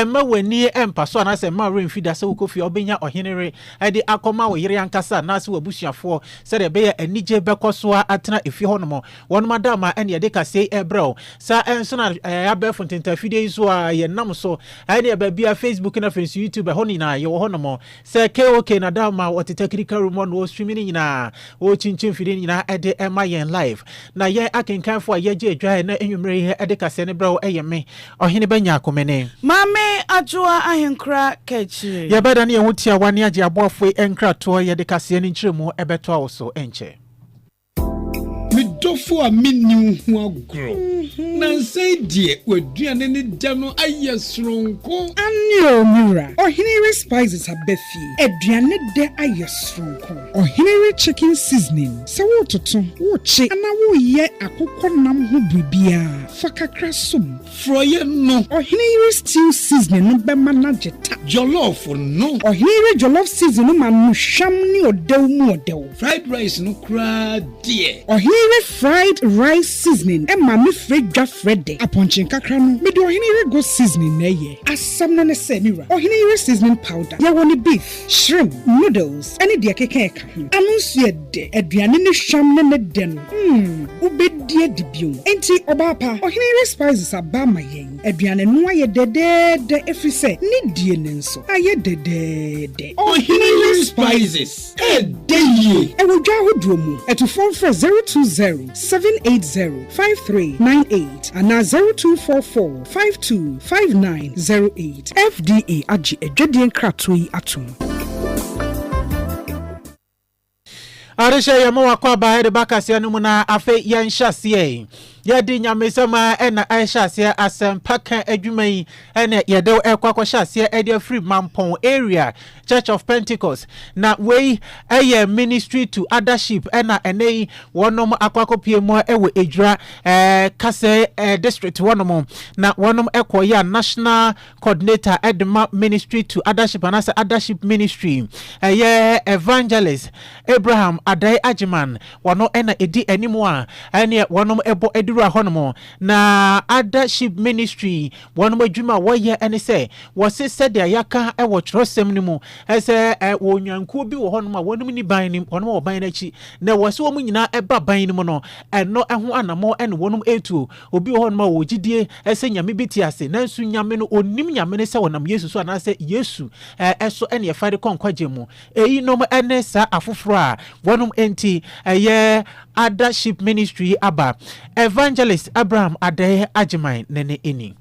Mma w'ani mpa so anaasɛ mma woremfi da sɛ wokɔ fie a wobɛnya ɔhene yere de akɔma wo yere ankasa anaasɛ w'abusuafoɔ, sɛdeɛ ɛbɛyɛ a anigye bɛkɔ so ara atena efie hɔnom. Wɔnom adaamma ɛne yɛde kasa yi rebrɛ wo. Saa ara nso na ɛɛ abɛɛfo ntentaafidie yi nso ara yɛnam so ɛne baabiara, Facebook na afei nso YouTube, ɛhɔ no nyinaa yɛwɔ hɔnom. Sɛ KOK na da ma wɔte takirika room hɔ na wɔswimi no nyinaa, wɔkyinkyin mfidie no nyinaa de ma yɛn live. Na yɛn akenkanfoɔ a yɛgye adwa ɛnnɛ anwummerɛ yi de kaseɛ no brɛ wo yɛ me, Ɔhene Bɛnya Akome ne. Maame Adwoa Ahenkora Kakyire. Yɛbɛdane yɛn ho tiawa ne agye aboafoɔ yi nkratoɔ, yɛde kaseɛ no nkyerɛmu bɛtoa wo so nkyɛ. Me dɔfo a minni wo ho agorɔ. Nnansa yi deɛ, w'aduane ne dɛ no ayɛ soronko. Aane oo, me wura. Ɔhene yere spices aba fie. Aduane dɛ ayɛ soronko. Ɔhene yere chicken seasoning, sɛ woretoto, worekye anaa woreyɛ akokɔ nam ho biribiara, fa kakra som. Frɔeɛ no. Ɔhene yere stew seasoning no bɛma no agye ta. Jollof no. Ɔhene yere jollof seasoning no ma no hwam ne ɔdɛw mu ɔdɛw. Fried rice no koraa deɛ. Ɔhene yere fried rice seasoning ma me frɛ dwa frɛ dɛ. Apɔnkye nkakra no, mede ɔhene yere goat seasoning na ɛyɛ. Asɛm no ne sɛ, me wura, ɔhene yere seasoning powder, yɛwɔ no beef. Shrimp, noodles ne deɛ ɛkeka ɛka ho. Ano nso yɛ dɛ. Aduane ne hwam ne ne dɛ no, mm, wobɛdi adi bio. Enti ɔbaa pa, ɔhene yere spices aba ma yɛn. Aduane no ayɛ dɛdɛɛdɛ ɛfiri sɛ ne die no nso ayɛ dɛdɛɛdɛ. Ɔhene yere spices ɛdɛ yie. Ɛwɔ dwa ahodoɔ mu. Atufoɔ mfrɛ zero two zero seven eight zero five three nine eight anaa zero two four four. Five two five nine zero eight. FDA agye adwadie nkratoɔ yi atom. Adehyɛ yɛma wakɔ aba de ba kaseɛ no mu na afei yɛnhyɛ aseɛ yɛde nyamesɛm a ɛna ɛhyɛ aseɛ asɛmpa ka adwuma yi ɛna yɛde ɛkɔ akɔhyɛ aseɛ ɛde afiri mampɔn area Church of Pentecost, na wei yɛ ministry to othership na ɛnɛ yi wɔnom akɔ akɔpie mu wɔ Edwira eh, Kase eh, district wɔnom na wɔnom kɔ yɛ a national coordinator de ma ministry to othership anaasɛ othership ministry ɛyɛ evangelist Abraham Adai Agyeman wɔno na ɛdi anim a ɛneɛ wɔnom ɛbɔ aduru ahɔnom na othership ministry Wɔn adwuma a wɔyɛ ne sɛ wɔse sɛdeɛ yɛaka wɔ twerɛsɛm no mu sɛ wɔ nnwankuo bi wɔ hɔnom a wɔnom ni ban no wɔnom wɔ ban no akyi na wɔse wɔn nyinaa ba ban no mu no ɛno ho anamɔ ne wɔnom ɛtuo obi wɔ hɔnom a wɔwɔ gyidie sɛ nyame bi te ase nanso nyame no ɔnim nyame no sɛ wɔnam yesu so anaasɛ yesu ɛso ɛne ɛfa de kɔ nkwagye mu Eyinom ne saa afoforo a wɔnom nti ɛyɛ Ada Ship Ministry yi aba, Evangelist Abraham Adei Agyeman ne ne nni.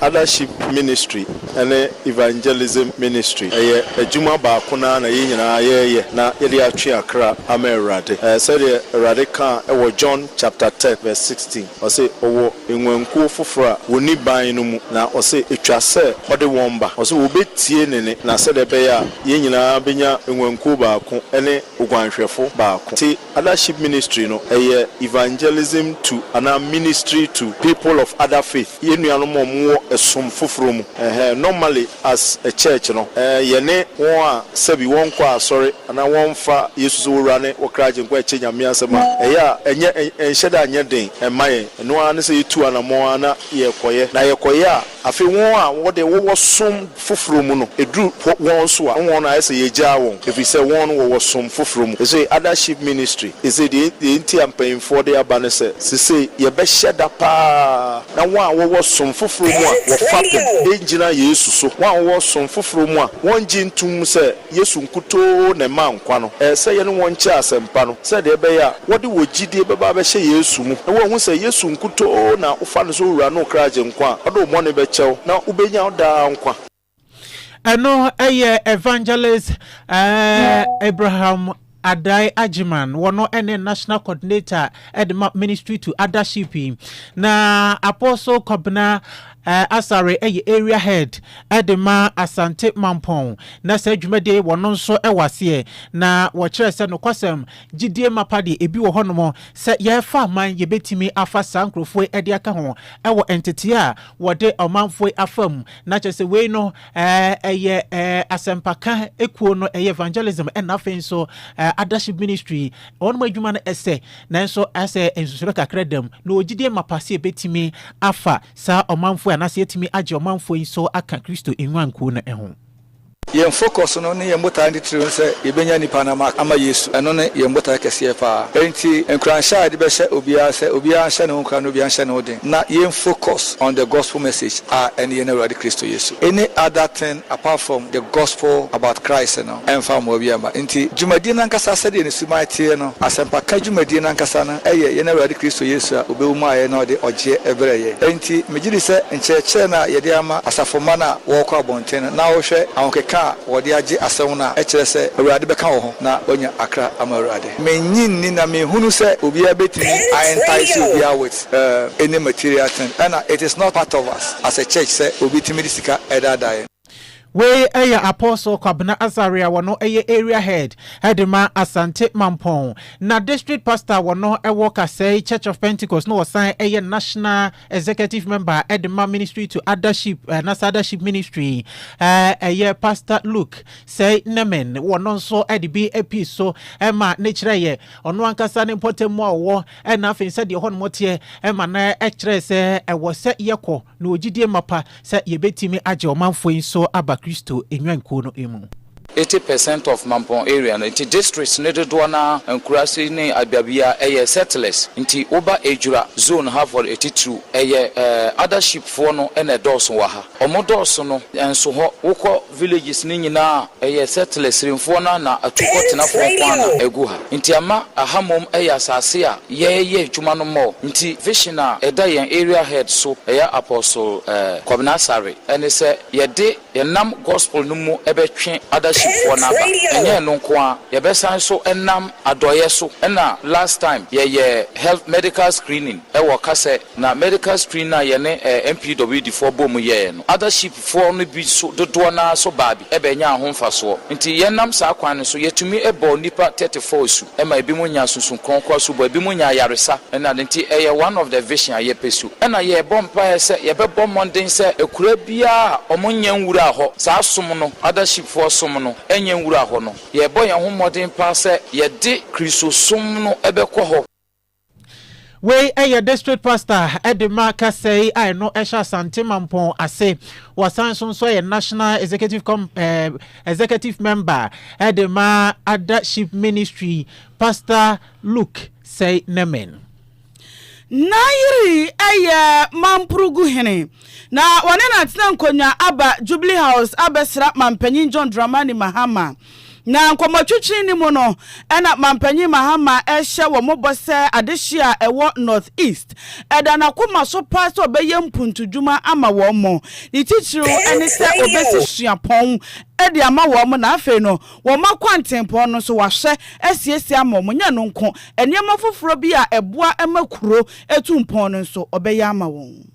Ada Ship Ministry ne Evangelism Ministry ɛyɛ adwuma baako no ara na yɛn nyinaa yɛreyɛ na yɛde atwe akra ama Awurade. Sɛdeɛ Awurade kaa wɔ John chapter ten verse sixteen, ɔse ɔwɔ. nguankuo foforɔ a wɔnni ban no mu, na ɔse ɛtwa sɛ ɔde wɔn ba. Ɔse wɔbɛtie ne nne, na sɛdeɛ ɛbɛyɛ a yɛn nyinaa bɛnya nguankuo baako ne oguanhwɛfo baako. Te Adaship Ministry no, ɛyɛ evangelism to anaa ministry to people of other faith, yɛn nuanom a wɔwɔ ɛsom foforɔ mu. Ɛhɛɛ, normally As a church no, yɛne wɔn a sɛbi wɔnkɔ asɔre anaa wɔmfa Yesu sɛ wɔn Wura ne wɔn Kra Agyenkwa ɛkyɛ Nyame asɛm a, ɛyɛ a ɛnyɛ ɛnhyɛ da nyɛ den mma yɛn. Ɛno ara ne sɛ yɛtu anammɔn ara na yɛrekɔyɛ. Na yɛkɔyɛ a, afei wɔn a wɔde wɔwɔ som foforɔ mu no, ɛduru wɔn so a, wɔn ayɛ sɛ yɛagyaa wɔn, ɛfiri sɛ wɔn no wɔwɔ som foforɔ mu. Seesei Other Sheep Ministry, seesei deɛ enti a mpaninfoɔ de aba ne sɛ, seesei yɛbɛhyɛ da pa ara, Na wɔn a wɔwɔ som foforɔ mu a wɔfapem ngyina Yesu so. Wɔn a wɔwɔ som foforɔ mu a wɔngye ntom sɛ Yesu nkutoo na ɛma nkwa no, ɛyɛ sɛ yɛne wɔn nkyɛ asɛmpa no sɛdeɛ ɛbɛyɛ a wɔde wɔ gyidie bɛba abɛhyɛ Yesu mu na wɔahu sɛ Yesu nkutoo na wofa no sɛ Owura ne wo Kra Agyenkwa a ɔde wo bɔne bɛkyɛ wo na wobɛnya daa nkwa. ɛno ɛyɛ evangelist uh, abraham Adai Ajiman wɔno ɛne national coordinator ɛde ma ministry to othership na apostle kɔbena uh, asare ɛyɛ area head ɛde ma asante mampɔn na saa dwumadie wɔno nso ɛwɔ aseɛ na wɔkyerɛ sɛ nokwasɛm gyidie mapa deɛ ebi wɔ hɔnom sɛ yɛfa man yɛbɛtumi afa saa nkurɔfoɔ ɛde aka ho ɛwɔ nteteɛ a wɔde ɔmanfoɔ afa mu Na kyerɛ sɛ wei no ɛyɛ asɛmpaka kuo no, ɛyɛ evangelism ɛna afei nso adahye ministry wɔn adwuma no ɛsɛ nanso ɛsɛ nsusuro kakra dam na wɔgyidie ma pa sɛ ɛbɛtumi afa saa ɔmanfoɔ anaasɛ ɛtumi agye ɔmanfoɔ yi nso aka Kristo nnwankuo no ho. Yɛn focus no ne yɛn botae ne titiriw ne sɛ yɛbɛnya nnipa no ama Yesu. Ɛno ne yɛn botae kɛseɛ paa. Enti nkuranhyɛ a yɛde bɛhyɛ obiara sɛ obiara nhyɛ ne ho nkuran na obiara nhyɛ ne ho den na yɛn focus on the gospel message a ɛne yɛn Awurade Kristo Yesu. Any other thing apart from the gospel about Christ no ɛmfa mmoa biara mma. Enti dwumadie no ankasa sɛdeɛ ne suban teɛ no, asɛmpaka dwumadie no ankasa no yɛ yɛn Awurade Kristo Yesu a ɔbɛwu maa yɛn na ɔde ɔgyeɛ brɛɛ yɛn. Enti megye di sɛ nkyerɛkyerɛ no a yɛde ama asafomma no a wɔrekɔ abɔnten, Tena na wohwɛ ahokeka a wɔde agye asɛm no a ɛkyerɛ sɛ Awurade bɛka wo ho na woanya akra ama Awurade. Minnye nni na minhunu sɛ obiara betumi a entice obiara with any material thing ɛna it is not part of us as a church sɛ obi tumi de sika ɛdaadaa yɛn. Wei yɛ Apostle Kwabena Azaria wɔno yɛ Area Head de ma Asante Mampɔn na District Pastor wɔno wɔ Kasɛe Church of Pentecost na ɔsan yɛ National executive member ɛde ma ministry to adaship eh, na adaship ministry ɛyɛ eh, pastor luke sɛ nemen wɔno nso ɛde bi api so ɛma ne kyerɛ yɛ ɔno ankasa ne mpɔtam mu a ɔwɔ ɛna afei sɛ deɛ hɔ nom teɛ ɛma na ɛkyerɛ sɛ ɛwɔ sɛ yɛkɔ na ɔgyidie mapa sɛ yɛbɛtumi agye ɔmanfoɔ yi nso aba Kristo nnwankuo no mu. Eighty percent of Mampong area no nti districts no dodoɔ no ara nkuraase ne adwabea ɛyɛ settlers nti woba Ejura zone ha for atitiriw ɛyɛ eh Adaship foɔ no na ɛdɔɔso wɔ ha wɔn dɔɔso no nso hɔ wokɔ villages no nyinaa ɛyɛ settlers renfoɔ no ana atukɔ tenafoɔ nkoaa na ɛgu ha nti ama aha mmom ɛyɛ asaase a yɛ yɛ adwuma no mɔɔ nti vision a ɛda yɛn area head so ɛyɛ apostle eh Kwabena Asare ɛne sɛ yɛde yɛnam gospel no mu ɛbɛtwe other sheep foɔ no aba ɛnyɛ ɛno nkoaa yɛbɛsan so ɛnam adɔeɛ so ɛna last time yɛyɛ health medical screening ɛwɔ kasɛ Na medical screen no a yɛne ɛɛ MPWD foɔ boom yɛɛ no, other ship foɔ no bi so dodoɔ no ara so baa bi bɛ nyaa ho mfasoɔ. Nti yɛ nam saa kwan no so yɛ tumi bɔɔ nnipa thirty four asu ma ebinom nyaa sunsum kronkron asubɔ, ebinom nyaa ayaresa ne ade. Nti ɛyɛ one of the vision a yɛ pɛ su. Ɛna yɛ bɔ mpaeɛ sɛ yɛ bɛ bɔ mmɔden sɛ akuraa biara a wɔn nyɛ nwuraa hɔ, saa som no, other ship foɔ som no, nyɛ nwuraa hɔ no. Yɛ bɔ yɛn ho mmɔden paa sɛ yɛ de Kristosom no bɛ kɔ hɔ. Wei yɛ District Pastor de ma kasa yi a ɛno hyɛ Asante Mampɔn ase. Wɔsan nso nso yɛ National Executive Com eh, Executive Member de ma Ada Sheep Ministry, Pastor Luke Sɛe Nemen. N'ayere yɛ Mampurugu hene, na wɔne no atena nkonnwa aba Jubilee House abɛsra Mampanyin John Dramani Mahama. Na nkɔmmɔtwetwe no mu no, ɛna Mampanyin Mahama rehyɛ wɔn bɔ sɛ adehye a ɛwɔ North East da n'akoma so paa sɛ ɔbɛyɛ mpuntudwuma ama wɔn. Ne titiriw ne sɛ obesi suapɔn de ama wɔn na afei no wɔmma kwantempɔn no nso wahwɛ asiesie ama wɔn. Nyɛ ɛno nko, nneɛma foforo bi a ɛboa ma kuro tu mpɔn no nso ɔbɛyɛ ama wɔn.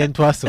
yɛntoa so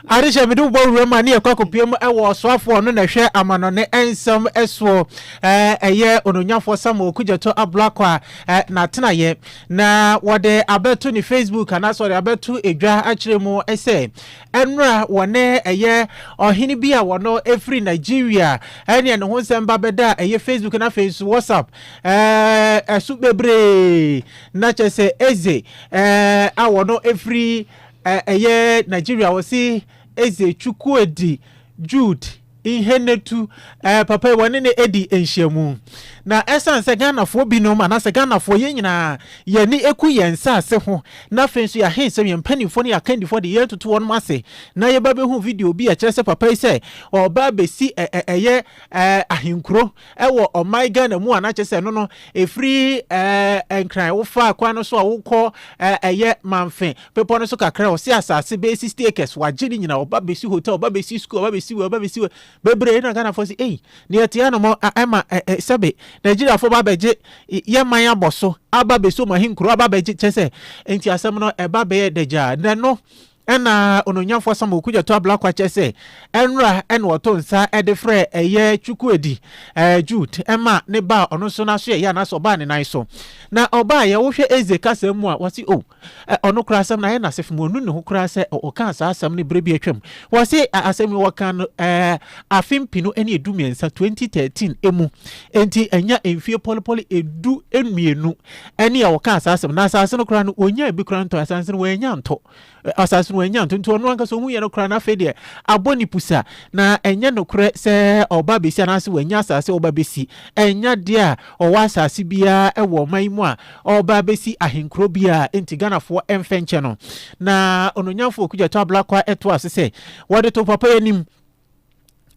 adehyɛ mede wobɔ wura mu a ne yɛkɔ akɔpie mu wɔ ɔsoafoɔ no na ɛhwɛ amanɔne nsɛm soɔ ɛyɛ ononyafoɔ samuel kugyato ablakɔ a n'atenayɛ na wɔde abɛto ne facebook anaasɛ wɔde abɛto edwa akyerɛ mu sɛ Nnora wɔ ne ɛyɛ ɔhene bi a wɔno ɛfiri Nigeria ɛne ne ho nsɛm ba bɛda a ɛyɛ Facebook na afei nso WhatsApp ɛso bebree na kyɛ sɛ Eze a wɔno ɛfiri ɛyɛ Nigeria wɔse Eze Chukwuedi Jude Nhennetu, ɛɛ papa yi wɔne no adi nhyiamu. Na ɛsan sɛ Ghanafoɔ binom anaasɛ Ghanafoɔ yɛn nyinaa yɛn ani ku yɛn nsaase ho na afei nso yɛahen sɛ yɛn mpaninfoɔ ne yɛn akandifoɔ de yɛn toto wɔnom ase na yɛba bɛhu video bi a ɛkyerɛ sɛ papa yi sɛ ɔɔba abɛsi ɛɛ ɛyɛ ɛɛ ahenkuro wɔ ɔman Ghana mu a na kyerɛ sɛ ɛno no ɛfiri ɛɛ nkran wofa kwan no so a wokɔ ɛyɛ manfe bepɔ no so kakra ɔse asase bɛyɛ sixty acres wagye ne nyina ɔba bɛsi hotel ɔba bɛsi school ɔba bɛsi wei ɔba bɛsi wei bebree na Ghanafoɔ sɛ ei deɛ ɛte anomɔ ɛma sɛbe Nigeriafoɔ ba bɛgye yɛ man abɔ so aba bɛsi ɔmahi nkuro aba bɛgye kyɛ sɛ nti asɛm no ɛba bɛyɛ dagyaa na no Ɛna Onuonyamfo Asamoah Okudzeto Ablakwa kyerɛ sɛ ɛnora na ɔto nsa de frɛ ɛyɛ Chukwuedi Jude ɛma ne ba a ɔno nso n'aso yɛ ya anaasɛ ɔbaa ne nan so. Na ɔbaa yɛ wohwɛ Eze kasa mu a wɔse oh ɔno koraa asɛm no ayɛ no asefem ɔnu ne ho koraa sɛ ɔkaa saa asɛm no berɛ bi atwam. Wɔse asɛm yi wɔkaa no afe mpenu ne edu mmiɛnsa 2013 emu enti ɛnya mfie pɔlepɔle edu mmienu. Ɛne a ɔkaa saa asɛm. Na asase no koraa no, ɔnyaa bi koraa ntɔ. Asase no wannya ntɔ. Asase no wannya ntɔ. Nti ɔno ankasa ɔhu yɛ no koraa na afei deɛ abɔ ne pusa. Na ɛnyɛ nokorɛ sɛ ɔba bɛsi anaasɛ wannya asase ɔba bɛsi. Ɛnya deɛ a ɔwɔ asase biara ɛwɔ ɔman yi mu a ɔba bɛsi ahenkuro biara. Nti Ghanafoɔ ɛmfɛnkyɛ no. Na Ononyamfoɔ Okudzeto Ablakwa ɛtoa so sɛ, Wɔde to papa yi anim.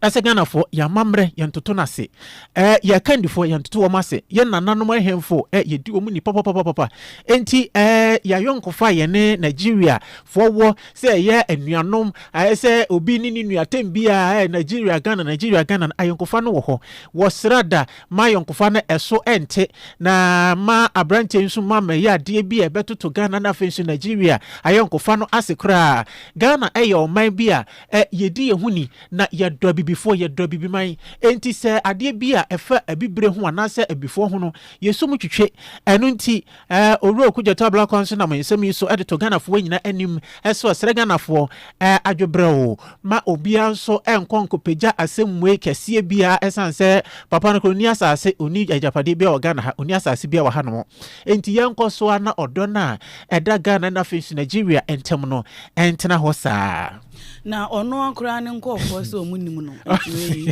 ɛsɛ ghanafoɔ yɛn amammerɛ yɛn toto no ase ɛɛ yɛn kandifoɔ yɛn toto wɔn ase yɛn nananom ahemfo ɛɛ yɛdi wɔn ni papapapapa nti ɛɛ yɛayɔnkofa yɛn ne nigeria foɔ wɔ sɛ ɛyɛ anuanom ɛɛ sɛ obi ne ne nua tɛm bi a ɛɛ nigeria ghana nigeria ghana ayɔnkofa no wɔ hɔ wɔ srada ma ayɔnkofa no ɛso ɛnte na ma aberanteɛ nso ma mɛyɛ adeɛ bi a ɛbɛtoto ghana no afei nso nigeria ayɔnkofa no ase koraa ghana ɛyɛ ɔman bi a Ɛ, yɛdi yɛn ho ni, na yɛdɔ abibifoɔ, yɛdɔ abibiman. Enti sɛ adeɛ bi a ɛfa abibire ho anaasɛ abifoɔ ho no, yɛsɔ mu twitwe. Ɛno nti, ɛ, Owura Oku Gyata Ablakwa nso nam nsɛm yi so de to Ghanafoɔ nyinaa anim sɛ ɔsrɛ Ghanafoɔ, ɛ, adwobrɛw, ma obiara nso nkɔ nkɔpagya asɛmmuae kɛseɛ biara, ɛsiane sɛ Papa no koraa, ɔnni asase, ɔnni agyapadeɛ biara wɔ Ghana ha, ɔnni asase biara wɔ hanom. Enti yɛnkɔ so ara na ɔdɔ no a ɛda Ghana na afei nso Nigeria ntam no ntena hɔ saa. Na ɔno koraa ne nkurɔfoɔ sɛ ɔmo nim no nti wei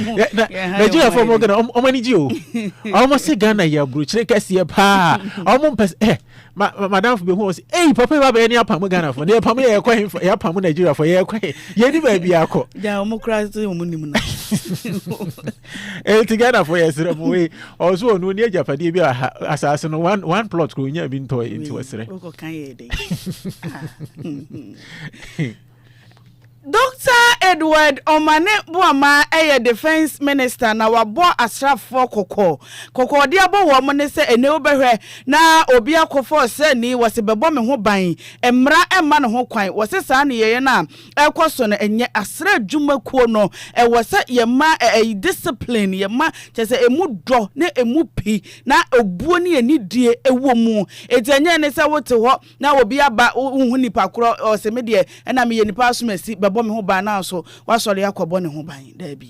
mo yɛn ha yɛ Nigeria fo ɔmo gana ɔmo ani gye o ɔmo se Ghana yɛ aburokyire kɛseɛ paa ɔmo mpɛ sɛ eh ma madamfo bi hu ɔsi eyi papa yi wabɛyɛ ne apam Ghana fo ne yɛ pam yɛ yɛkɔ he yɛ apam Nigeria fo yɛ kɔ he yɛ ni baabi akɔ. Gya ɔmo koraa sɛ ɔmo nim no. Eti Ghana fo yɛ srɛ mo wei ɔso ɔno ɔni agyapadeɛ bi a asaase no one one plot kuro nya bi ntɔ yɛ nti wɔsrɛ. Dr. Edward Omane Boama yɛ defense minister na wabɔ asrafoɔ kɔkɔ. Kɔkɔɔde abɔ wɔn ne sɛ ɛnɛ wobɛhwɛ na obi akɔfa ɔsrani wɔse bɛbɔ me ho ban. Mmara mma ne ho kwan. Wɔse saa nneyɛeɛ no a ɛkɔ so no ɛnyɛ asra adwuma kuo no ɛwɔ sɛ yɛ ma ɛyi discipline yɛ ma kyɛ sɛ ɛmu dɔ ne ɛmu pi na obuo ne anidie ɛwɔ mu ɛti ɛnyɛ ne sɛ wote hɔ na obi aba wohu nipa korɔ ɔsɛ me deɛ ɛna me yɛ nipa asomasi bɛbɔ me ho ban nanso wasɔre akɔbɔ ne ho ban daabi.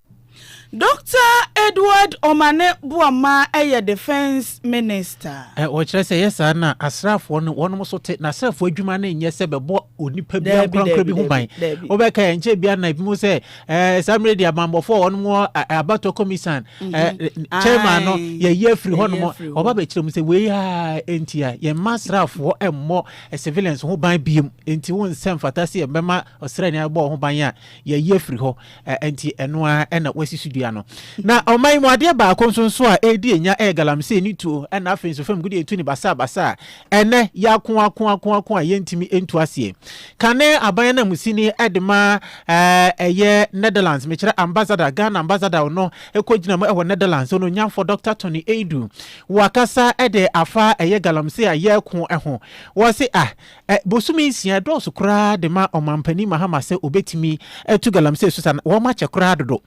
Dɔkta Edward Omane Boamah yɛ Defence Minister. Wɔkyerɛ sɛ ɛyɛ saa no a, asraafoɔ no wɔnom so te, na asraafoɔ adwuma no nyɛ sɛ bɛbɔ onipa bi ankorankora bi ho ban. Wobɛka ɛ, nkyɛ bia na ebi mu sɛ ɛɛ saa mmerɛ di abammɔfoɔ a wɔnom wɔ abatoɔ kɔmisan ɛɛ chairman no yɛyi afiri hɔnom, wɔba bɛkyerɛ mu sɛ wei a enti a yɛmma asraafoɔ mmɔ civilians ho ban biem, enti wo nsɛ mfata sɛ yɛbɛma Ɔsraani a wɔbɔɔ ho ban a yɛayi afiri hɔ, enti ɛno ara na wɔasi so dua no. Na ɔman mu adeɛ baako nso nso a ɛredi nya yɛ galamsey ne tuo, ɛnna afei nso fam gudeɛ tu ne basabasa a ɛnnɛ yɛako ako ako ako a yɛntumi ntu aseɛ. Kane aban ananmusini de ma ɛyɛ Netherlands, mekyerɛ ambassador, Ghana ambassador no kɔgyina mu wɔ Netherlands, onuonyamfoɔ Dɔkta Tony Adu, wakasa de afa ɛyɛ galamsey a yɛreko ho. Wɔse ah, Ɛ, bosome nsia, ɛdɔɔso koraa de ma Ɔmanpanin Mahama sɛ ɔbɛtumi atu galamsey so saa no, wɔn akyɛ koraa dodo.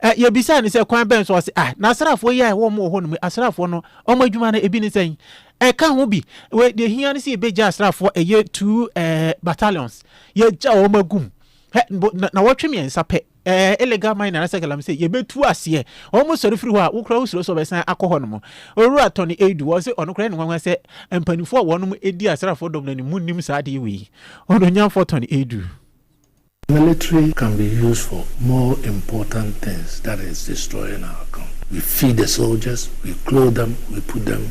Ɛ, yɛbisaa no sɛ, kwan bɛn so? Ɔse, Ah, n'asraafoɔ yi a ɛwɔ wɔn wɔ hɔ nom yi, asraafoɔ no, wɔn adwuma no, ebi ne sɛn? Ɛka ho bi, wei, deɛ ɛhia ne sɛ yɛbɛgya asraafoɔ, ɛyɛ two, ɛɛ, battalions, yɛagya wɔn agu mu. Hɛ, bo, na, nawɔtwe mmiɛnsa pɛ. Ɛɛ illegal mine anasɛ galamsey yɛbɛtu aseɛ wɔn sɔre firi hɔ a wokora wosuro sɛ wɔbɛsan akɔ hɔ nom Owura Tony Adu ɔse ɔno koraa ɛyɛ no nwanwa sɛ mpaninfoɔ a wɔnom di asraafoɔ dɔm no anim mu nnim saa adeɛ wei Ononyamfoɔ Tony Adu. Military can be used for more important things that is destroying our country we feed the soldiers we clothe them we put them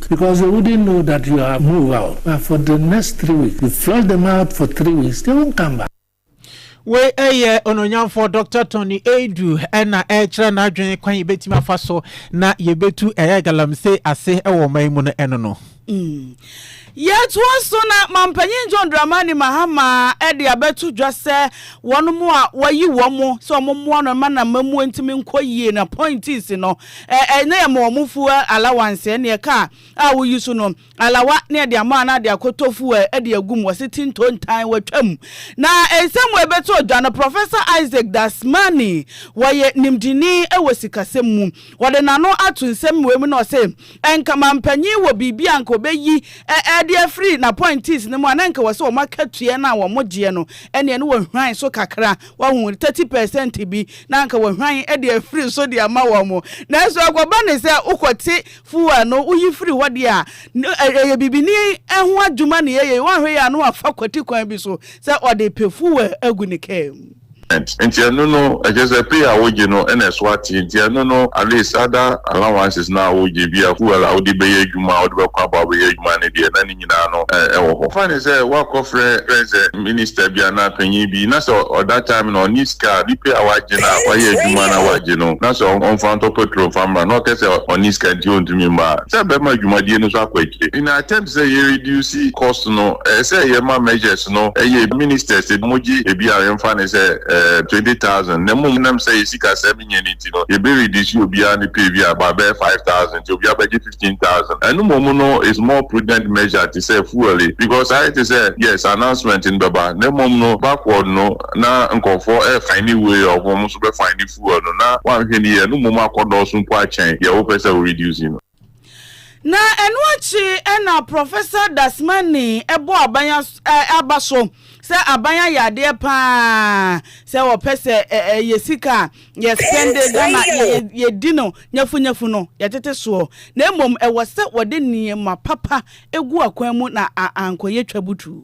Because they wouldn't know that you are move out and for the next three weeks you flush them out for three weeks they won't come back. wei ɛyɛ ononyamfoɔ dr tony adu ɛna ɛkyerɛ n'adwene kwan yɛbɛtumi afa so na yɛbɛtu ɛyɛ galamsey ase ɛwɔ ɔman yi mu no ɛno no mm. yɛtoa so na mampanyin john dramani mahama ɛde abɛto dwa sɛ wɔn mo a wɔyi wɔn mo sɛ wɔn mmoa no ma na mmamuo ntumi nkɔ yie na appointees no ɛ ɛ na yɛma wɔn fuel allowance ɛ neɛ car a woyi so no alawa na yɛde ama a na de akɔtɔ fuel ɛ de agu mu wɔse ti ntontan watwa mu na nsɛm wɔ ɛbɛtɔ odwa no Professor Isaac Dasmani wɔyɛ nimdini wɔ sikasɛm mu ɔde n'ano ato nsɛm wei mu na ɔse nka mampanyin wɔ biribi a nka ɔbɛyi ɛ ɛ de afiri n'appointees no mu a na nka wɔse wɔn akatua no a wɔn gyeɛ no ɛ neɛ no wɔhwan so kakra Wahu? Thirty percent bi na anka wahwan de afiri so de ama wɔn. Nanso ɛkɔba ne sɛ wokɔte fuel no, woyi firi hɔ deɛ a, ɛyɛ bibini ho adwuma na yɛyɛ. Woanhwɛ yie a na wafa kwati kwan bi so sɛ ɔde repɛ fuel agu ne kaa mu. Nti ɛno no, ɛkyerɛ sɛ pay a wogye no na ɛso ate. Nti ɛno no, at least other allowances no a wogye, bi a fuel a wode bɛyɛ adwuma a, wode bɛkɔ abɔ abɛyɛ adwuma no deɛ, na ne. nyinaa no wɔ hɔ. Fa no sɛ woakɔfrɛ friend sɛ minister bi anaa panyin bi na sɛ ɔ that time no ɔnni sika a, ne pay a wagye no a wayɛ adwuma no a wagye no na sɛ ɔmfa ntɔ petrol mfa mmra na ɔka sɛ ɔnni sika nti ontumi mma a, sɛ ɛbɛma adwumadie no so akɔ akyire. In attempt sɛ yɛ reduce cost no, ɛyɛ sɛ yɛma measures no yɛ ministers a wɔgye ebi a yɛmfa no sɛ twenty thousand na mmom nam sɛ yɛ sikasɛm nyɛ no nti no yɛbɛ reduce obiara ne pay bi a ɛbɛyɛ five thousand nti obiara bɛgye fifty. fifteen thousand ɛno mmom no is more prudent measure te sɛ fuel yi because ayɛ te sɛ yes announcement no bɛba na mmom no backward no na nkurɔfoɔ refine way of wɔn nso bɛ fine fuel no na woanhwɛ no yie ɛno mmom akɔ dɔɔso mpo akyɛn deɛ wopɛ sɛ wo reduce no. Na ɛno akyi na Professor Dasmani bɔ aban aba so sɛ aban ayɛ adeɛ pa ara sɛ wɔpɛ sɛ ɛyɛ sika a Yɛsɛn de da na yɛdi no nyafunyafu no, yɛtete soɔ, na mmom ɛwɔ sɛ wɔde nneɛma papa gu akwan mu na ankɔyɛ twabutuu.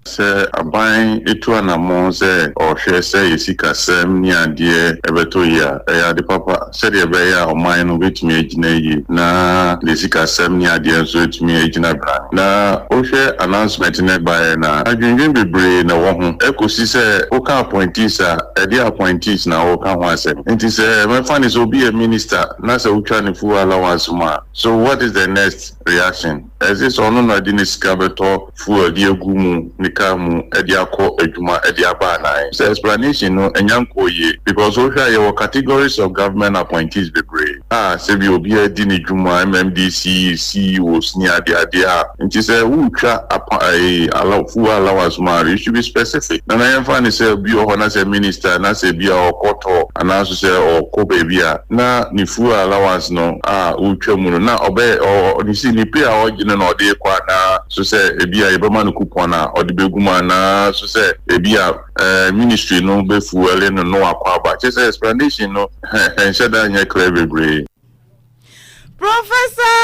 Sɛ aban tu anammɔn sɛ ɔrehwɛ sɛ yɛn sikasɛm ne adeɛ bɛtɔ yie a, ɛyɛ ade papa sɛdeɛ ɛbɛyɛ a ɔman no bɛtumi agyina yie na ne sikasɛm ne adeɛ nso atumi agyina brann. Na wohwɛ announcement no a ɛbaeɛ no a, adwendwen bebree na ɛwɔ ho kɔsi sɛ woka appointees a, Ɛdeɛn appointees na wo ka ho asɛm? Nti sɛ mɛfa no sɛ obi yɛ minister na sɛ wo twa no fuel allowance mu a so what is the next reaction? As if sɛ ɔno na ɔde ne sika bɛtɔ fuel de agu mu ne car mu de akɔ adwuma de aba anaa ɛ? Sɛ explanation no nya nkɔɔ yie because wo hwɛ a yɛwɔ categories of government appointees bebree. a sɛ bi obiara di ne dwuma, MMDCs, CEOs ne adeade a, nti sɛ woretwa apa ɛyi allow fuel allowance ma no, it should be specific. Nana yɛmfa no sɛ obi wɔ hɔ na sɛ minister na sɛ bi a ɔkɔ tour anaa nso sɛ ɔkɔ baabi a na ne fuel allowance no a wotwa mu no na ɔbɛ ɔ ne si ne pay a ɔgye no na ɔde rekɔ anaa nso sɛ ebi a yɛbɛma no coupon a ɔde bɛgu mu anaa nso sɛ ebi a Eh ministry no bɛ fuɛli no no akɔ aba kyɛ sɛ explanation no ɛnhyɛ da nyɛ clear bebree. Professor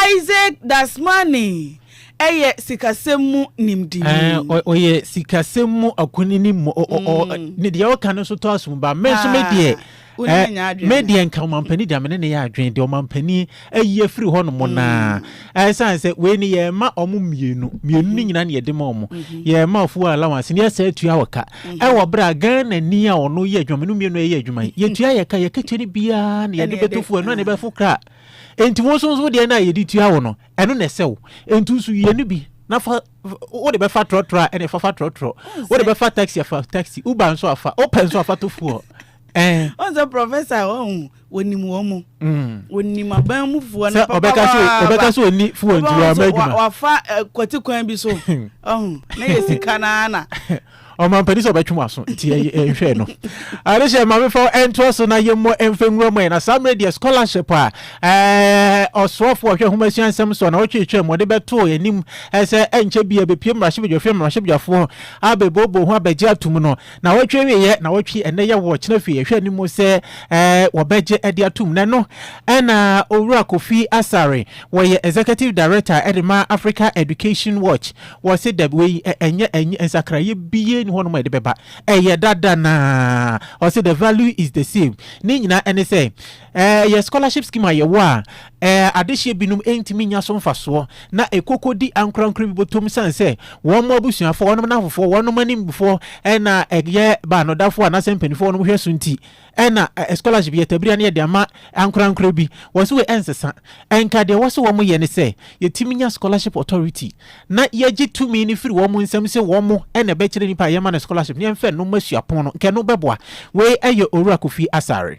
Isaac Dasmani yɛ sikasɛm mu nimdini. Eh ɔyɛ sikasɛm mu akunini mu ɔ ɔ ɔ ne deɛ ɔka no nso tɔ asom ba me nso me deɛ Ɛ, me deɛ nka ɔmampanin deɛ me ne ne yɛ adwene deɛ ɔmampanin ayi afiri hɔ nom naa ɛsan mm. sɛ wei ne yɛma ɔmo mmienu mmienu ne nyinaa ne yɛde ma ɔmo mm-hmm. yɛma ɔfo wɔ allowance ne yɛsɛ atua wɔ ka mm-hmm. ɛwɔ berɛ a Ghana ni a ɔno yɛ adwuma mmienu mmienu ɛyɛ adwuma yi yɛtua yɛ ka yɛkatua no biara ne yɛde bɛto fo ɛno a ne bɛfo kra enti wɔn nso nso deɛ no a yɛde tua wɔ no ɛno na ɛsɛ wo enti nso yɛ no bi na fa wo de bɛfa trɔtrɔ a ɛna ɛfa fa trɔtrɔ wo de bɛfa taxi afa taxi uber nso afa opɛ nso afa to foɔ Eh. ɔn sɛ professor ɔn wɔnim wɔn mu mm. wɔnim aban mu fuwa no papa paa ɔbɛka so ɔni fuwa nti wɔama adwuma wafa eh, kwati kwan bi so ɔn na yɛ sika naa na ɔma mpani sɛ ɔbɛtwe waso nti ɛnhwɛ no ade hyɛ mamefa ɛntoa so na yɛmmɔ ɛmfa nwura mu ɛ na saa mmerɛ deɛ scholarship a ɔsoafoɔ ɔhwɛ homa sua nsɛm so na ɔtwetwɛ mu ɔde bɛtoo anim sɛ ɛnkyɛ bia bɛpie mmarahyɛbadwafoɔ mmarahyɛbadwafoɔ abɛbooboo ho abɛgye atom no Na wɔtwe awieɛ na wɔtwe ɛnɛ yɛ wɔ kyena fie yɛhwɛ anim sɛ ɛɛ wɔbɛgye de atum na ɛno ɛna owura kofi asare wɔyɛ executive director ɛde ma africa education watch wɔse dɛbi wei ɛnyɛ ɛnyɛ nsakraeɛ bie ne hɔnom a ɛde bɛba ɛyɛ dada na ɔse the value is the same ne nyinaa ɛne sɛ Ɛyɛ scholarship scheme a yɛwɔ a adehyeɛ binom ntumi nnya so mfasoɔ na ɛkokɔdi ankorankoro bi bɔtɔm siane sɛ wɔn abusuafoɔ, wɔn nnamfofoɔ, wɔn animfoɔ na ɛyɛ baanodafoɔ anaasɛ mpanimfoɔ wɔn hwɛ so nti na scholarship yɛ tabiri a na yɛde ama ankorankoro bi. Wɔse wei ɛnsesa. Ɛnka deɛ wɔse wɔn yɛ ne sɛ yɛtumi nya scholarship authority na yɛgye tumi no firi wɔn nsam sɛ wɔn na ɛbɛkyerɛ nipa a yɛma no scholarship na yɛmfa ɛno mma suapɔn no nka ɛno bɛboa. Wei ɛyɛ Owura Kofi Asare.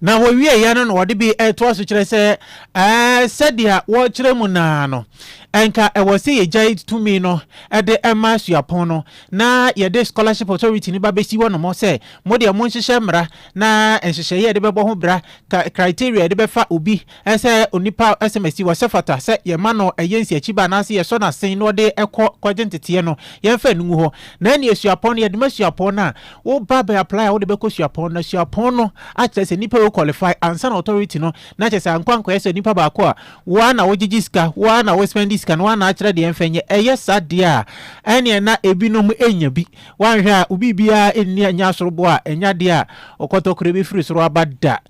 Na wɔwieeɛ no na wɔde bi toa so kyerɛ sɛ, ɛɛ, sɛdeɛ wɔkyerɛ mu no ara no, ɛnka ɛwɔ sɛ yɛgyae tumi no de ma suapɔn no na yɛde Scholarship Authority no ba bɛsi hɔnom sɛ, mo deɛ monhyehyɛ mmara na nhyehyɛeɛ a yɛde bɛbɔ ho bra, criteria a yɛde bɛfa obi Ɛsɛ onipa a ɛsɛm asi hɔ sɛ fata sɛ yɛma no yɛ nsiakyiba anaasɛ yɛsɔ no asen na ɔde kɔ kɔgye nteteɛ no, yɛmfa no ngu hɔ. Na ɛnneɛ suapɔn no, yɛde ma suapɔn no a woba bɛ apply a wode bɛkɔ suapɔn no na suapɔn no akyerɛ sɛ nipa wei qualify ansa na authority no na kyerɛ sɛ ankɔ ankɔyɛ sɛ onipa baako a wo ara na wogyegye sika, wo ara na wo spend sika no, wo ara na akyerɛ deɛ ɛmfa nyɛ. Ɛyɛ saa deɛ a, ɛnneɛ na ebinom nya bi. Woanhwɛ a, wo biribiara nni a ɛnyɛ asoroboa a, ɛnyɛ adeɛ a ɔkɔtɔkorɛ bɛfiri soro aba da.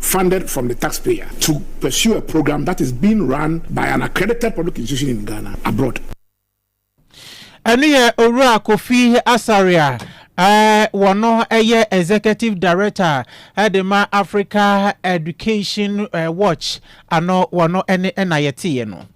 funded from the taxpayer to pursue a program that is being run by an accredited public institution in Ghana abroad. Ɛno yɛ Owura Kofi Asare a wɔno yɛ Executive Director de ma Africa Education Watch ano wɔno ne na yɛteeɛ no.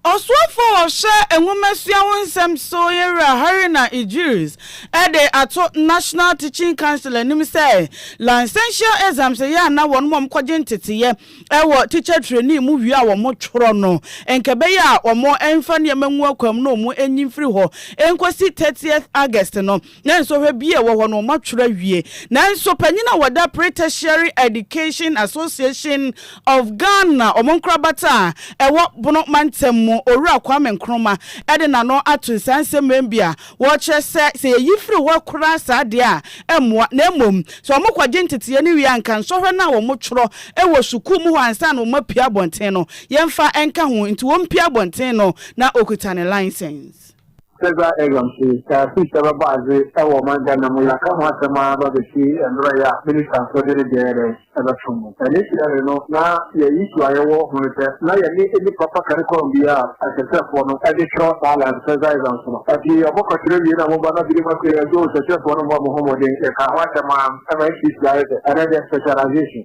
Ɔsoafoɔ a ɔhwɛ nwomasua ho nsɛm so, Yɛn Wura Haruna Idris, de ato National Teaching Council anim sɛ Licential Exams a ɛyɛ a na wɔnom a wɔkɔgye nteteeɛ wɔ Teacher Trainee mu wie a wɔtwerɛ no, nkɛbɛyɛ a wɔmfa nneɛma ngu akwam na wɔnyi mfiri hɔ nkɔsi 30th August no. Ná nsɔhwɛ biara a ɛwɔ hɔ no, wɔatwerɛ awie. Nanso panyin a ɔda Pre-Tertiary Education Association of Ghana, wɔn nkorabata a ɛwɔ Bono mantam mu, Owura Kwame Nkrumah de n'ano ato nsaa nsɛmmɛn bi a wɔkyerɛ sɛ, sɛ yɛyi firi hɔ koraa saa deɛ a, ɛmmoa, na mmom sɛ wɔkɔgye nteteeɛ no wie a, anka nsɔhwɛ no a wɔtwerɛ wɔ sukuu mu hɔ ansa na wɔapue abɔnten no, yɛmfa nka ho. Enti wɔmpue abɔnten no, na ɔkuta ne license. Federal Exam se sɛ fees bɛbɔ adze wɔ ɔman Ghana mu yɛaka ho asɛm ara ba besi mberɛ yi a ministanfoɔ de ne deɛ dɛn bɛto mu. Initially no na yɛn issue a yɛwɔ ho ne sɛ na yɛne ɛnni proper curriculum biara a akyerɛkyerɛfoɔ no de twerɛ saa last federal exams no. Ɛnti ɔmokɔkyerɛ wie na ɔmoba na binom afei ɛnti oo kyerɛkyerɛfoɔ no mmɔ mo ho mmɔden yɛkaa ho asɛm ara ma ɛma ɛsiesie ayɛ sɛ ɛnɛ deɛ specialization.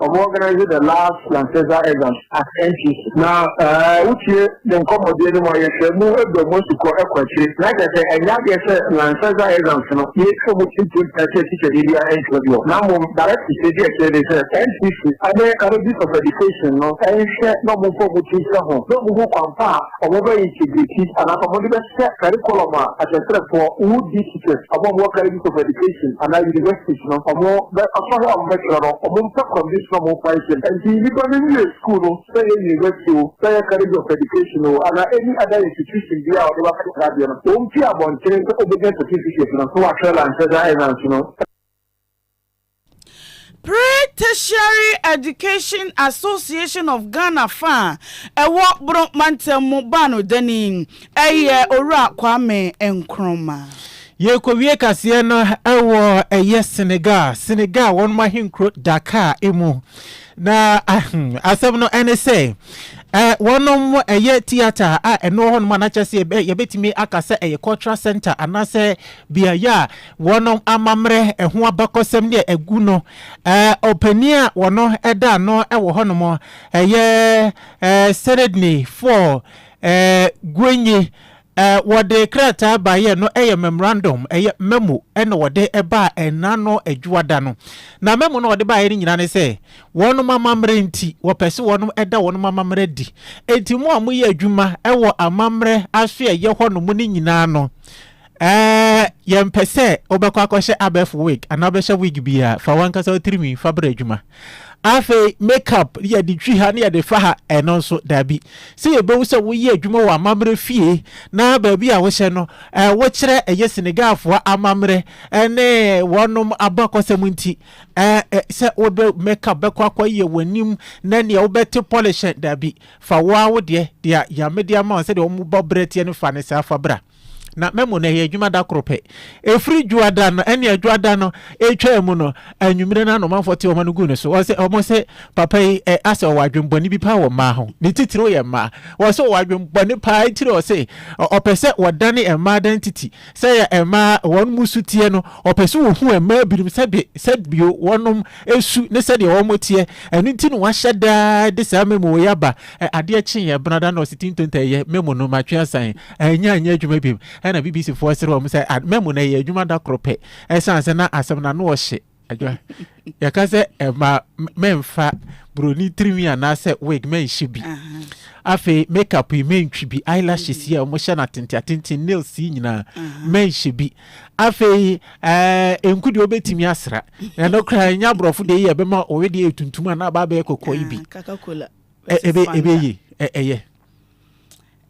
Ɔmo organise the last Lancaster exams at NTC na wotie ne nkɔmmɔdeɛ no mu a yɛhwɛ mu adu ɔmo asukɔ kɔ akyire na kyerɛ sɛ ɛnyɛ adeɛ sɛ Lancaster exams no yɛtwa mu tintim pɛ sɛ tikyadeɛ biara ntwa bi hɔ na mmom direct tikyadi ɛkyerɛ ne sɛ NTC ne Colleges of Education no nhwɛ na ɔmo mfa ɔmo ti nka ho na ɔmo hu kwan pa a ɔmo bɛ integrate anaasɛ ɔmo de bɛ Sɛ curriculum a akyerɛkyerɛfoɔ, woo di teachers, ɔmo a ɔmo wɔ colleges of education anaa universities no, ɔmo bɛ ɔsɔhwɛ a ɔmo bɛ kyerɛ no, ɔmo mpɛ condition a ɔmo mfa nhyɛ mu. Ɛnti nnipa no nwie school no, sɛ ɛyɛ university o, sɛ ɛyɛ college of education o, anaa any other institution biaa a ɔde bɛ akɔkyerɛ adeɛ no, ɔmpie abɔntene sɛ ɔbɛnya certificate no, na w'atwerɛ lankyerɛ da ɛna nso no. Pre-Tertiary Education Association of Ghana fa a ɛwɔ Bono Mantam mu baa no dɛ ni, ɛyɛ Owura Kwame Nkrumah. Yɛrekɔwie kaseɛ no wɔ ɛyɛ Senegal, Senegal wɔn ahenkuro Dakar mu, na asɛm no ne sɛ wɔn ɛyɛ theatre a ɛno wɔ hɔ nom anakyɛ sɛ yɛbɛtumi aka sɛ ɛyɛ cultural center anaasɛ beaeɛ a Wɔn amammerɛ ho abakɔsɛm ne a ɛgu no, ɔpanin a wɔn da ano wɔ hɔnom, ɛyɛ Seredni Four Gwenyi, wɔde krataa baeɛ no yɛ memorandum, ɛyɛ memo na wɔde baa ɛna no adwuada no. Na memo no wɔde baeɛ no nyinaa ne sɛ, wɔn amammerɛ nti, wɔpɛ sɛ wɔn da wɔn amammerɛ di. Enti mo a moyɛ adwuma wɔ amammerɛ aso a ɛyɛ hɔnom no nyinaa no, Ɛɛ, yɛmpɛ sɛ wobɛkɔ akɔhyɛ abɛɛfo wig anaa wobɛhyɛ wig bi a, fa w'ankasa wo tirinwi fa brɛ adwuma. Afei, make-up ne yɛde twi ha ne yɛde fa ha, ɛno nso, dabi. Sɛ yɛbɛhu sɛ woyɛ adwuma wɔ amammerɛ fie na baabi a wohyɛ no, ɛɛ, wokyerɛ ɛyɛ Senegalfoɔ amammerɛ ne wɔnom abakɔsɛm nti, ɛɛ, sɛ wode make-up bɛkɔ akɔyɛ w'anim na nea wobɛte polish ɛ, dabi. Fa wo ara wo deɛ, deɛ Nyame de ama wo sɛdeɛ wɔn bɔ berɛ teɛ no fa no saa fa bra. Na mɛmo no ɛyɛ adwuma da koro pɛ. Ɛfiri dwoada no, ɛne adwoada no ɛtwaa mu no, anwummerɛ no anomanfoɔ te wɔn ano guu ne so. Wɔsɛ, wɔn sɛ, papa yi ɛ, asɛ ɔwɔ adwembɔne bi paa wɔ mmaa ho. Ne titiriw yɛ mmaa. Wɔsɛ ɔwɔ adwembɔne paa etiri ɔsɛ, ɔpɛ sɛ wɔdane mmaa dan titi. Sɛ yɛ mmaa wɔn mu su teɛ no, ɔpɛ sɛ ɔhu mmaa binom sɛde, sɛdbio wɔnom su ne sɛdeɛ wɔn teɛ. Ɛno nti na wahyɛ daa de saa mɛmo wei aba. Adeɛ kyeeɛ, benada na ɔsɛ tintonta ɛyɛ, mɛmo no, matwe asan. Ɛnnya nyɛ adwuma bio. Ɛnna BBCfoɔ sere wɔn sɛ, ah, mmamu na ɛyɛ adwuma da koro pɛ. Ɛsiane sɛ na asɛm no ano ɔhye. Adwa. Yɛka sɛ ɛma mɛmfa buroni tirinwi anaasɛ wig mɛnhyɛ bi. Afei makeup yi mɛntwi bi, eyelashes yi a wɔhyɛ no atenten atenten, nails yi nyinaa mɛnhyɛ bi. Afei ɛɛ eh, nku deɛ wɔbɛtumi asra. Ɛno koraa ɛnyɛ aborɔfo deɛ yi a ɛbɛma ɔwe deɛ yɛ tuntum anaa aba abɛyɛ kɔkɔɔ yi bi. Ɛbɛyɛ ɛyɛ.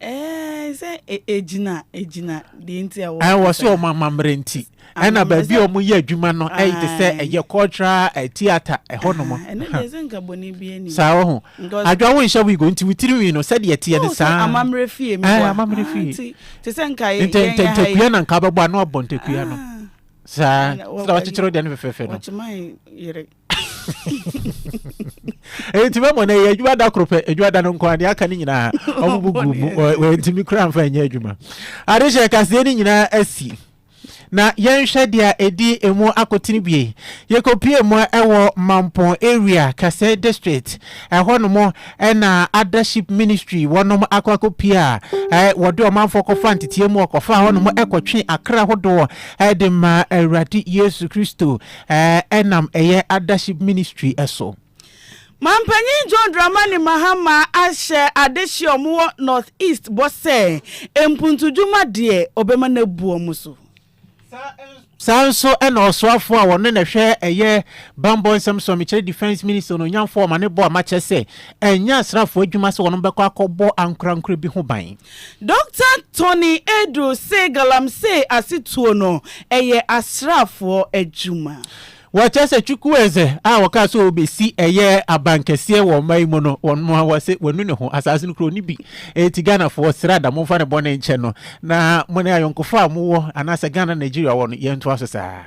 ɛɛ sɛ e- egyina egyina deɛ nti a ɛɛ wɔsi wɔn amammerɛ nti ɛna Amammerɛ baabi sɛ- a wɔyɛ adwuma no ɛyɛ te sɛ Aye. ɛyɛ cultural eh, theatre ɛhɔ nom Ah, ɛno deɛ sɛ nka bɔne bi anim saa wɔ ho Because- adwa wo nhyɛ wigo nti wo tiri nwi no sɛdeɛ ɛteɛ no Oh, sɛ saa amammerɛ fie mi Aye, bɔ a. amammerɛ Ah, fie. nti te sɛ nka yɛ- Nta- yɛn nta- yɛ ha yi- ntakua na nka bɛbɔ ano abɔ ntakua no Ah, saa Ɛna wɔ- sɛ wɔkyekyere deɛ no fɛfɛɛfɛ no wɔkyema yere nti mɛmɔ no ɛyɛ adwuma da koro pɛ adwuma da no nko adeɛ aka no nyinaa ɔmo bu gu mu wɔntumi kura mfa nyɛ adwuma ade hyɛ kaseɛ no nyinaa asi na yɛnhwɛ deɛ ɛdi emu akotene bie yɛkɔpie mu ɛwɔ mampɔn area kasɛe district ɛhɔ nom ɛna adaship ministry wɔnom akɔ akɔpie a wɔde ɔmanfoɔ kɔfa nteteɛ mu ɔkɔfa hɔ nom ɛkɔtwe akra hodoɔ ɛde ma awurade yesu kristo Ɛɛ nam ɛyɛ adaship ministry so. Mampanyin John Dramani Mahama ahyɛ adehye a wɔwɔ North East bɔ sɛ mpuntudwuma deɛ ɔbɛma no abu wɔn so. Saa nso na ɔsoafoɔ a ɔno na ɛhwɛ ɛyɛ bammɔ nsɛm so a mekyerɛ Defence Minister Onuonyamfoɔ Omane Boamah kyerɛ sɛ ɛnyɛ asraafoɔ adwuma sɛ wɔn bɛkɔ akɔbɔ ankorankorɛ bi ho ban. Dɔkta Tony Adu se galamsey asetuo no ɛyɛ asraafoɔ adwuma. Wɔkyerɛ sɛ Chukwueze a wɔkaa sɛ ɔbɛsi ɛyɛ abankɛseɛ wɔ ɔman yi mu no, wɔn a wɔse wanu ne ho. Asaase no kura ɔni bi. Enti Ghanafoɔ, srɛ ada, momfa ne bɔne nkyɛ no, na mo ne ayɔnkofa a mowɔ, anaasɛ Ghana ne Nigeria wɔ no, yɛntoa so saa.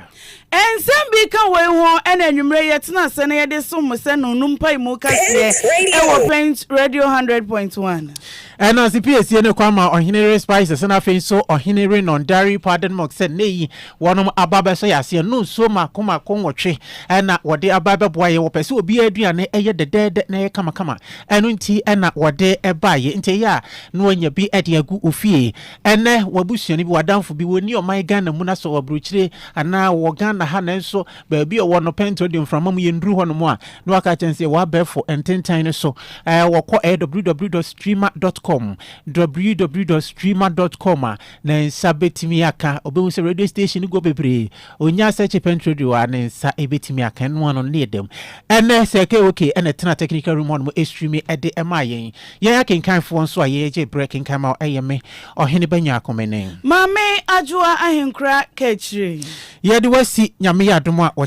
Nsɛm bi ka woi ho, Ɛna anwummerɛ yi yɛtena ase na yɛde som mo sɛ no no mpaemu kaseɛ ɛwɔ Pent Radio hundred point one. Ɛna Sipiesie ne kwan ma Ɔhene Re Spices ɛna afei nso Ɔhene Re Non Dairy Powdered Milk sɛ nnɛ yi wɔnom aba abɛsɔ yɛ aseɛ no nsuo mako mako nwɔtwe ɛna wɔde aba ɛbɛboa yɛ wɔpɛ sɛ obiara aduane ɛyɛ dɛdɛɛdɛ na ɛyɛ kamakama ɛno nti ɛna wɔde ɛbaeɛ nti ɛyɛ a na wɔanya bi ɛde agu ofie Ɛnnɛ, w'abusuani bi, w'adamfo bi, wɔnni ɔman Ghana mu na sɛ ɔwɔ aburokyire anaa ɔwɔ Ghana ha nanso baabi a ɔwɔ no pɛn nti ɔde mframa mu yɛnduru hɔnom a, na waka akyerɛ no sɛ yɛwɔ abɛɛfo ntentan no so. Ɛɛ, wɔkɔ ɛyɛ www.streema.com, www.streema.com a, ne nsa bɛtumi aka. Ɔbɛhu sɛ radio station no gu hɔ bebree. Onya sɛ Chippenham Radio a ne nsa betumi aka ɛno ano no yɛ dam. Ɛnnɛ, Sir KOK na ɛtena technical room hɔnom ɛstreame ɛde ɛmaa yɛn. Yɛn akenkanfoɔ nso a yɛyɛ gye berɛ kenkan ma ɛyɛ me, Ɔhene Banyaako Mene. Maame Adwoa Ahenkura Kakyire. Yɛde wo asi Nyame yɛ adom a, wɔ.